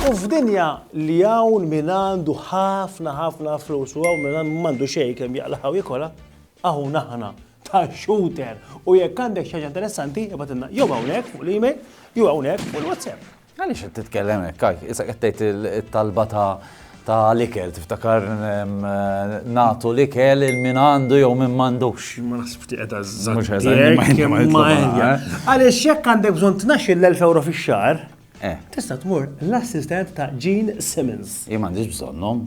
U f'dinja li hawn min għandu ħafna ħafna flus u hawn min m'għandu xejn kemm jaqlaħaw jikola, hawn aħna ta' shooter u jekk għandek xi ħaġa interessanti ibgħatilna jew hawnhekk fuq l-email jew hawnhekk fuq l-WhatsApp. Għaliex qed titkellem hekk, Kajk? Issa qed tgħid it-talba ta' ta' l-ikel, tiftakar nagħtu l-ikel il min għandu jew min m'għandux. Ma naħseb ftit qed għażżan. Għaliex jekk għandek bżonn tnaxxi l-1000 euro fix-xahar, Eh. Tista' tmur l-assistent ta' Gene Simmons. Jien m'għandix bżonnhom.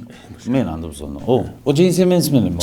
Min għandu bżonnhom? U Gene Simmons min imma?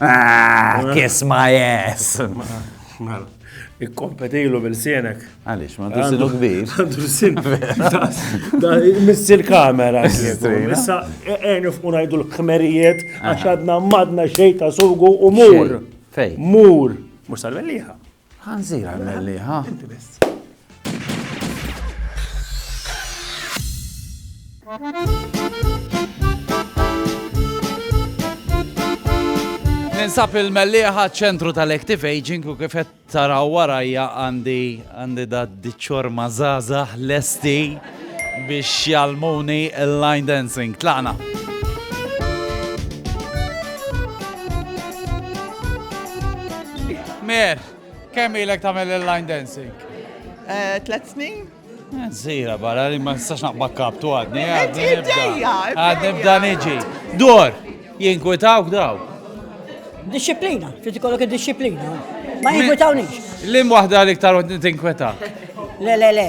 Ah, kiss my ass! Mela, ikkompetilu bil-sienek. Għalix, ma għandu sinu kbir. Għandu sinu. Missi l-kamera. Issa, għenu e, f'unajdu l-kmerijiet, għax għadna madna xej ta' sugu u mur. Fej. Mur. Mux tal-belliħa. Ħanżira l-mellieħa. Inti biss. Ninsab il-mellieħa ċentru tal-Active Aging u kifet taraw warajja għandi għandi da diċor mażaza lesti. biex jgħallmuni l-line dancing. Tlaqna. Mer, kemm ilek tagħmel il-line dancing? Eh, tlet snin. Eh, zira barra li ma nistax naqbak kaptu għadni, eh, għadni nibda. Għadni nibda niġi. Dor, jinkwitawk daw. Disciplina, trid ikollok id-disciplina. Ma jinkwitawniex. Lim waħda li ktar tinkwetak. Le, le, le.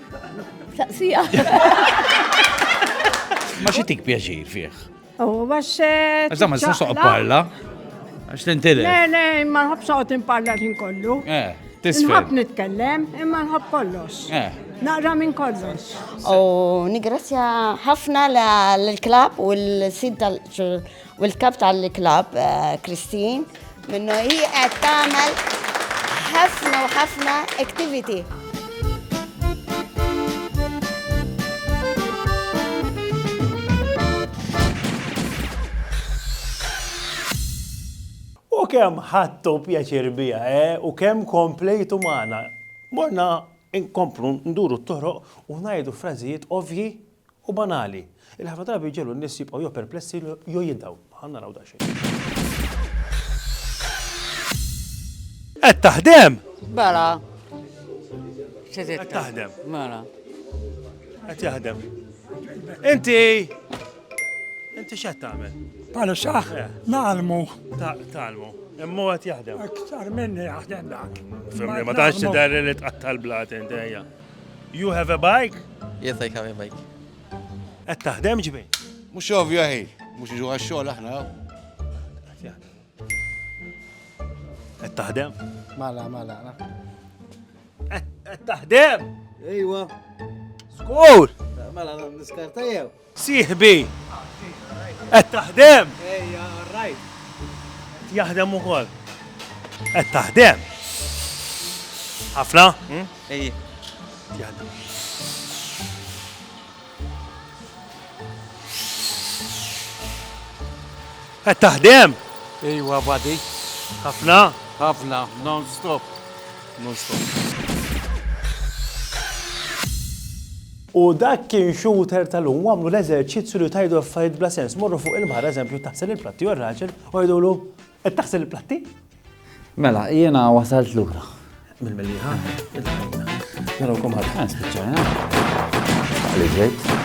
Saqsija. Ma xi tik pjaċir fih. U għax. Eh, għax ma s soqgħod parla. Għax tintili. Le, le, ma nħobb soqgħod imparla ħin kollu. Eh, tisfel. Nħobb nitkellem, imma nħobb kollox. Eh. Naqra minn kollox. U nigrazzja ħafna l-klab u l-sid tal U l-kap tal-klabb Christine minnu hi qed tagħmel ħafna u ħafna activity. U kemm ħadtu pjaċir biha, eh? U kemm komplejtu magħna. Morna nkomplu nduru t-toroq u ngħidu frażijiet ovvji u banali li ħafna drabi jġegħlu n-nies jibqgħu jew perplessi jew jindhaw. Ħa naraw daqsxejn. Qed taħdem? Bala. Qed taħdem. Mela. Qed jaħdem. Inti Inti x'qed tagħmel? Bħala saħ, eh. nagħlmu. Tagħlmu. Imma qed jaħdem. Aktar minni jaħdem dak. Fimni, ma tantx tidher li tqatta' l-blat inti ejja. You have a bike? Yes, I have a bike. Qed taħdem ġbi? Mhux ovvja ħi, mhux iġu għax-xogħol aħna. Qed taħdem? Mala, mala. Qed taħdem? Ejwa. Skur! Mela, niskarta jew? Sieħbi! Qed taħdem? Ejja, orrajt. Qed jaħdem ukoll. Qed taħdem? Ħafna? Ejji. Qed jaħdem. Qed taħdem? Ejwa, badi. Ħafna? Ħafna, non-stop. Non-stop. U dak kien shooter ta' lum u għamlu l-eżerċizzju li tgħidu affarijiet bla sens. Morru fuq il-baħar eżempju taħsel il-platti u r-raġel u jgħidulu, Qed taħsel il-platti? Mela, jiena wasalt lura. Mill-Mellieħa. Narawkom ħadd. Spiċċajna. Li ġejt.